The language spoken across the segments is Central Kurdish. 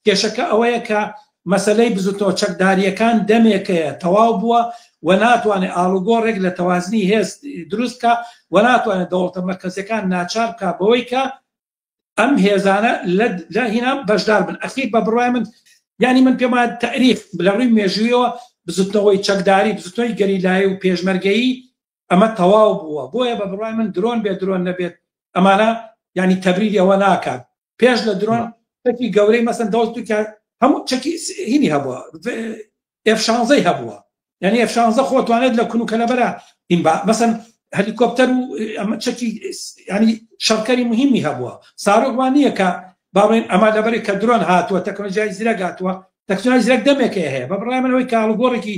کێشەکە ئەوەیە کە مەسەلەی بزوتنەوە چەکدارییەکان دەمێکەیە تەواو بووە و ناتوانێت ئاڵوگۆڕێک لە تەوازنی هێز دروست بکە و ناتوانێت دەوڵەتە مەرکەزیەکان ناچار بکە بەوەی کە ئەم هێزانە لە هینا بەشدار بن ئەخیر بە بڕای من ینی من پێما تاریخ لە ڕووی مێژوویەوە بزوتنەوەی چەکداری بزوتنەوەی گەریلایی و پێشمەرگەیی ئەمە تەواو بووە بۆیە بە بڕای من درۆن بێ درۆن نەبێت ئەمانە ینی تەبریری ئەوە ناکات پێش لە درۆن تەکی گەورەی مەسن دەوڵ تورکیا هەموو چەکی هینی هەبووە ئفشانزەی هەبووە یعنی ئفشانزە خۆتوانێت لە کون و کەلەبەرە ئین با مەسن هەلیکۆپتەر و ئەمە چەکی ینی شەڕکەری مهمی هەبووە سارۆکوان نییە کە باڵێن ئەما لەبەری کە درۆن هاتووە تەکنۆلژای زیرەگاتوە تەکسۆنای زیرەک دەمێکێ هەیە بە بڕای منەوەی کاڵگۆڕێکی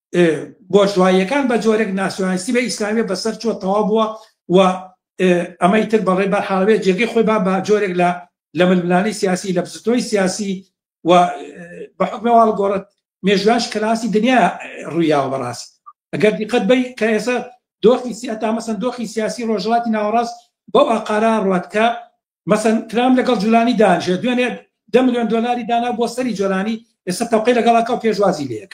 بۆرژواییەکان بە جۆرێک ناسیۆنالیستی بە ئیسلامیە بەسەر چۆ تەوا بووە و ئەمەی تر بەڵێ بە حاڵێ جێگەی خۆی با بە جۆرێک لە لە ململانەی سیاسی لە بزتۆی سیاسی و بە حکمەواڵ گۆڕت مێژواش کراسی دنیا ڕوویاوە بەڕاست ئەگەر دیقەت بی کە ئێستا دۆخی سیاتا مەسەن دۆخی سیاسی ڕۆژڵاتی ناوەڕاست بەو ئاقارا ڕات کە مەسەن ترام لەگەڵ جولانی دانژێ دوێنێ ده میلیۆن دلاری دانا بۆ سەری جۆرانی ئێستا تەوقی لەگەڵاکە و پێشوازی لەیەک